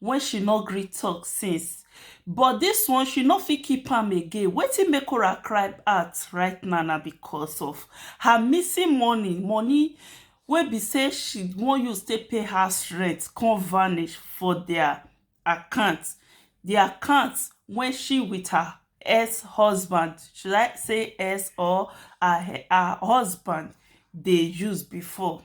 wey she no gree tok since but dis one she no fit keep am again wetin make Kora cry out right now na because of her missing money, money wey be say she wan use take pay house rent come vanish for dia account, di account wey she with her ex husband should I say ex or her husband dey use before.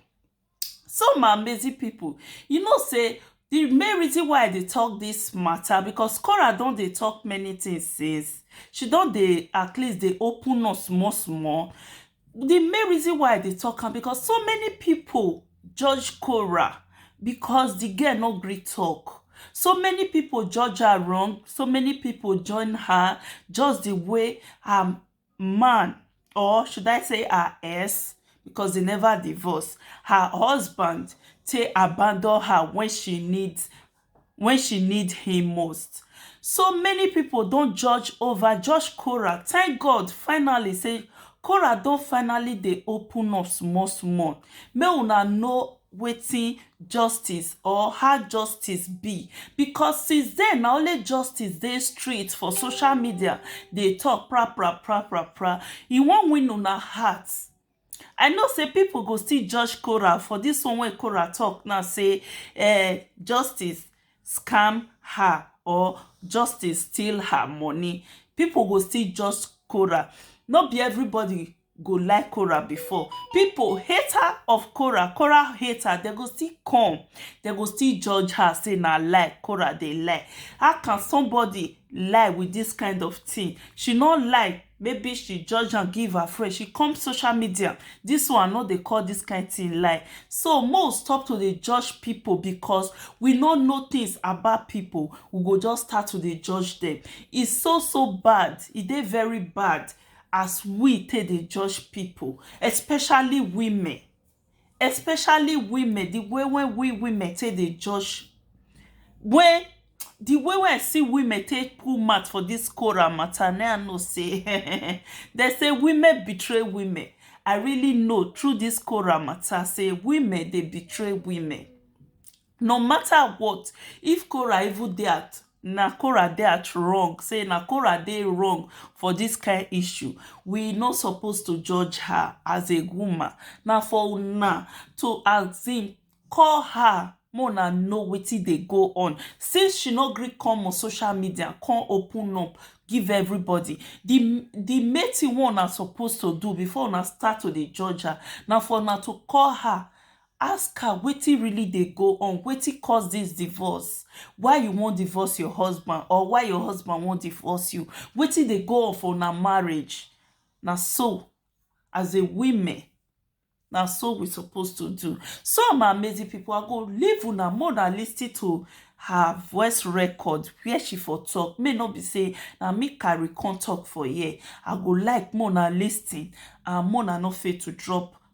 So my amazing people, you know say the main reason why I dey talk this matter because Cora don dey talk many things since. She don dey at least dey open up small small. The main reason why I dey talk am because so many people judge Cora because the girl no gree talk. So many people judge her wrong, so many people join her just the way her man or should I say her ex because they never divorce her husband take abandon her when she need when she need him most so many people don judge over judge Cora thank God finally say Cora don finally dey open up small small make una know wetin justice or how justice be because since then na only justice dey street for social media dey talk pra pra pra pra pra e wan win una heart I know sey people go still judge Korah for this one wey Korah talk now sey um justice scam her or justice steal her money people go still judge Korah no be everybody go like Korah before. People, hater of Korah, Korah hater, they go still come. They go still judge her, say na lie, Korah they lie. How can somebody lie with this kind of thing? She not lie. Maybe she judge and give her friend. She come social media. This one, no, they call this kind thing lie. So, more stop to the judge people because we no know things about people. We go just start to the judge them. It's so, so bad. It e is very bad. as we take dey judge people especially women especially women the way wey we women take dey judge wey the way wey I see women take put mouth for this Korah matter na im I know say um dem say women betray women I really know through this Korah matter say women dey betray women No matter what if Korah even dey at na Korah dey at wrong say na Korah dey wrong for this kind issue we no suppose to judge her as a woman na for una to as in call her make una know wetin dey go on since she no gree come on social media come open up give everybody the the main thing wey una suppose to do before una start to dey judge her na for una to call her Ask her wetin really dey go on, wetin cause dis divorce, why you wan divorce your husband or why your husband wan divorce you, wetin dey go on for una marriage, na so as a women na so we suppose to do. So my amazing pipu I go leave una make una lis ten to her voice record where she for talk make e no be sey na me carry come talk for here, I go like make una lis ten and make una no fail to drop.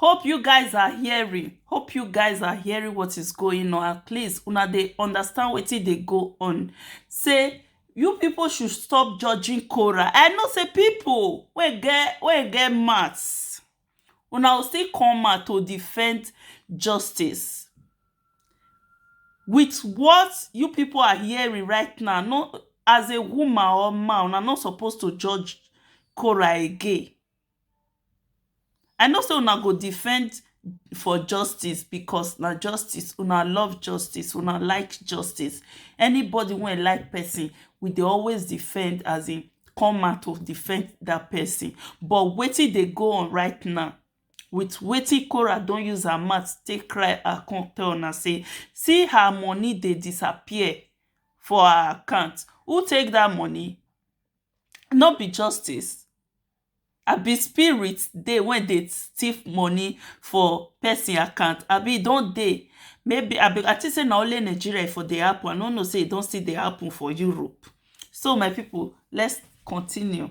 Hope you guys are hearing. Hope you guys are hearing what is going on. At least una dey understand wetin dey go on. Say you people should stop judging Cora. I know say people wey get wey get maths, una go still come out to defend justice. With what you people are hearing right now, no as a woman or man, una no suppose to judge Cora again. I know sey una go defend for justice because na justice una love justice una like justice anybody wey like person we dey always defend as in come out to defend that person but wetin dey go on right now with wetin Kora don use her mouth take cry and come tell una sey see her money dey disappear for her account who take that money? no be justice? Abi spirit dey wey dey thief money for person account abi e don dey maybe I think say na only Nigeria e for dey happen I no know say e don still dey happen for Europe so my people let's continue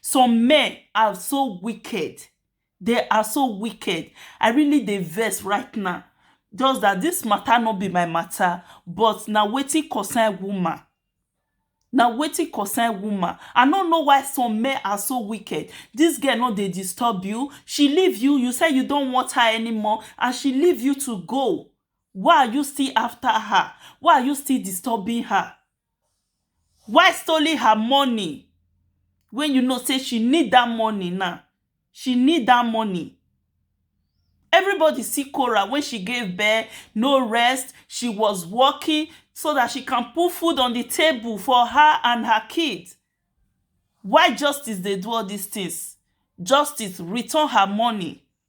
Some men are so wicked they are so wicked I really dey vex right now just that this matter no be my matter but na wetin concern woman na wetin concern woman I no know why some men are so wicked this girl no dey disturb you she leave you you say you don't want her anymore and she leave you to go why are you still after her why are you still disturbing her waste only her money wey you know sey she need dat money now she need dat money everybody see Cora wey she gave birth no rest she was working so dat she can put food on the table for her and her kids why justice dey do all dis things justice return her money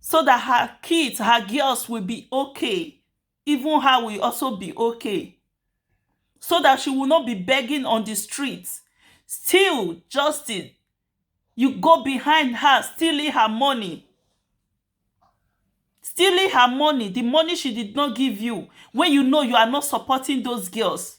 so dat her kids her girls will be ok even her will also be ok so dat she will not be begging on di street still Justin you go behind her stealing her money stealing her money di money she did not give you wey you know you are not supporting those girls